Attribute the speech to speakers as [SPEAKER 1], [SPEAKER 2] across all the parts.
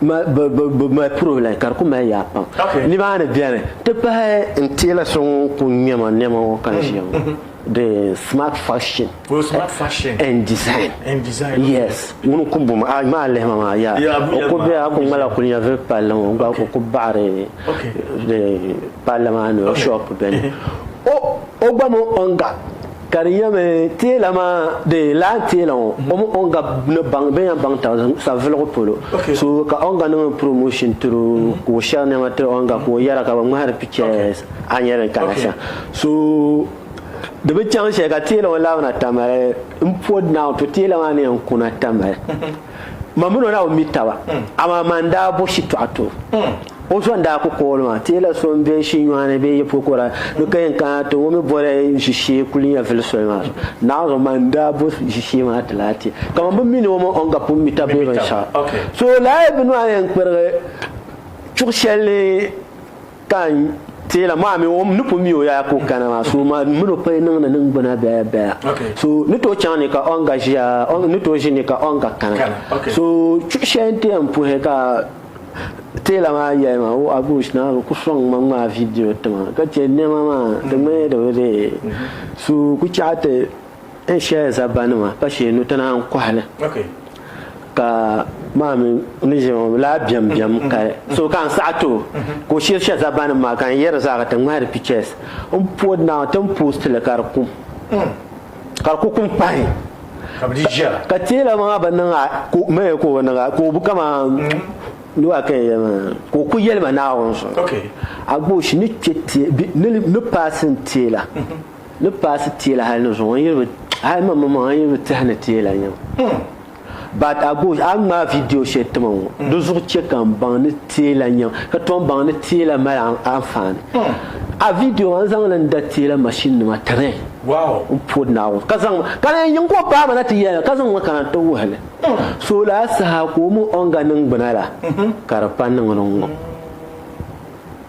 [SPEAKER 1] Bɛ mali puro la ka di ku mali yaa pam. Nimaani beni ti pahi n teela so ŋun ku ŋmɛ ma nɛma ŋɔ ka ʒiya ŋɔ. The smart fashion
[SPEAKER 2] and design.
[SPEAKER 1] Yes, ŋuni n-ku bɔŋ ma, a yuma a lihi ma maa yaa. O ku bela, a ku ŋmalila kuli nyɛvili palli ŋɔ gba ka o ku baɣiri palli maa ni o shop beni. O gba mini Onga. Ka di nyɛmi teela maa di lahi teela ŋɔ o mini Onga ni baŋ bɛn yan baŋ taba savilugu polo so ka Onga niŋ promotion tiri o ka o shɛri nɛma tiri Onga ka o yɛra ka bɛ ŋmahiri pictures a nya din kana sa so di bi chaŋ shɛli ka teela ŋɔ labina Tamale m pɔd now to teela maa ni yɛn kuna Tamale. Ma mini o daa bi mi taba, amaa ma n-daa bo shitɔɣu ti o. O zo n-daa ku kooli ma, Teela so m-be n shii nyɔɣu ni bee yi pukura ni, di ka yɛn kana ti ŋɔ mi boli ʒishee kuli nya vili soli maa zuɣu. Naanzuɣu ma n-daa bo ʒishee maa ti lahi ti, ka ma bi mini o mini o n-ga pun mi taba bee binshɛɣu. So lahi bi nɔhi ni n-kpirigi chuɣu shɛli ni. Ka n teela maa mi o ni pun mi o yaya ka o kana maa so maa mini o pali niŋdi ningbuna bɛya bɛya so ni tooi chaŋ ni ka ɔnga ʒiya ni tooi ʒi ni ka ɔnga kana so chuɣu shɛli n ti yɛn puhi ka teela maa yɛli ma o abush naa bi ku sɔŋ ma ŋmaa vidiyo tima ka chɛ nɛma maa di ŋmanila di bi dee so ku chaɣa ti N shɛya zabanima pa shee nu tana n kɔhi li ka maa mi ni ʒe ŋɔ laa biɛm biɛm ka so ka n saɣi ti o ka o shiri shɛ zabanima maa ka n yɛri zaa ka ti ŋmahiri pictures n po now ti ni post li ka di kum ka di ku kum pahi ka teela maa bi niŋ a ka o maya ka o niŋ a ka o bi kaman ni waa ka n yɛli maa ka o ku yɛli ma Naawuni so a gba o shi ni kpe ni paasi n teela. Ni paasi teela hali ni zuŋɔ yiri bi hali maŋ maŋ yiri bi tehi ni teela nyam. But I go a ŋmaa video shɛli tima ŋɔ di zuɣu chɛ ka n baŋ ni teela nyam ka tom baŋ ni teela mali anfaani. A video maa n zaŋ li n da teela machine nima tiri n pɔri
[SPEAKER 2] Naawuni ka
[SPEAKER 1] zaŋ ma ka di yɛn niŋ ka o paai ma na ti yɛli ka zaŋ ma kana n ti wuhi li. So lala saha ka o mi o ni ga niŋgbuna la ka di pa niŋ di ŋɔ.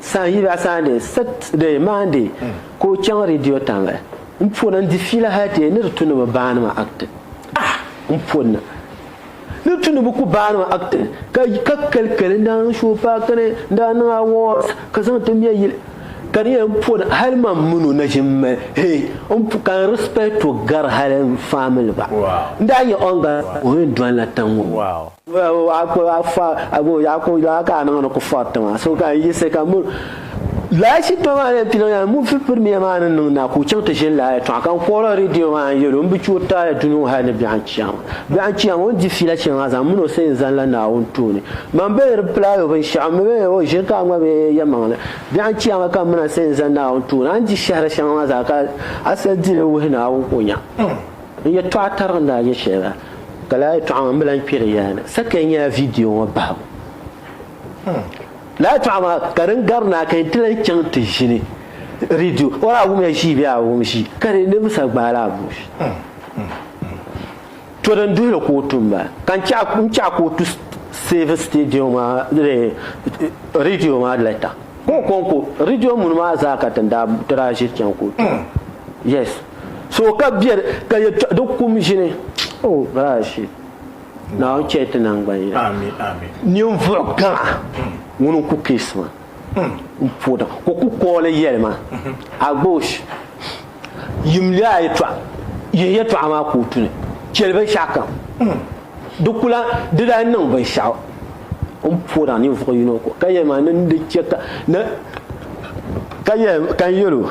[SPEAKER 1] San yi ba Sunday, Saturday, Monday ka o chaŋ Radio Tanle. N poni n di fiila hali ti yɛn ni di tu ni bi baani ma acting. Ah! N poni ni tu ni bi ku baani ma acting ka ka kali kali n daa niŋ show paaki ni n daa niŋ awards ka zaŋ ti mɛ yili. Ka di yɛn poni hali man min o na ʒim mali hee n pu ka n respect o gari hali n family gba. N daa nya o ni gari o yɛn dɔnla tiŋ ŋɔ. Lala shitɔɣu maa ni piliŋ yaa ŋun fi pirimiya maa ni niŋ naa ka o chaŋ ti ʒini lala yɛltɔɣa ka n kɔhiri reediyo maa n yɛli o m bi chɛ o taali duni ŋɔ hali ni biɛɣu n-chiya maa. Biɛɣu n-chiya maa o ni di fiila shɛli maa zaŋ min o sani n-zaŋla Naawuni tooni. Mani bee di pilaai o binshɛɣu m-mi bee o ʒiri ka a ŋma bee yɛlimaŋli. Biɛɣu n-chiya maa ka m mi na sani n-zaŋ Naawuni tooni. A ni di shɛhiri shɛŋa maa zaa ka a sal dili n-wuhi Naawuni ka o nya. N yɛtɔɣa tariga ni a yɛ shɛli la, ka lala yɛtɔɣa maa m bi lan kpɛr i yaa ni. Sakiya nyɛla vidiyo ŋɔ bahigu. Lala yɛtɔɣa maa ka din gari ni a ka yɛn ti lan chaŋ ti ʒini ridio. O daa wumya ʒii bee a wum ʒii, ka di ninvuɣ sa gbaai la abuush. To din duhi li ka o tu m-bala. Ka n chaɣ ka o tu seevi sitidiyo maa ridio maa lɛta. Ka o kɔŋko ridio muni maa zaa ka ti daa ʒiri chaŋ ka o tu. Yes. So ka biɛri ka yɛltɔɣa di kum ʒini. Oh gosh. Naawuni chɛ ti nangban yina. Amin amin.
[SPEAKER 2] Ninvuɣ
[SPEAKER 1] gaŋa ŋun n ku keesi ma n po daŋ ka o ku kooli yɛli ma Agbosh yimli a yɛltɔɣa yihi yɛltɔɣa maa kootu ni chɛli binshɛɣu kam. Di ku lan di daa niŋ binshɛɣu n po daŋ ninvuɣ yino ko ka yɛli ma ni n di chɛ ka ni ka yɛli ka n yɛl o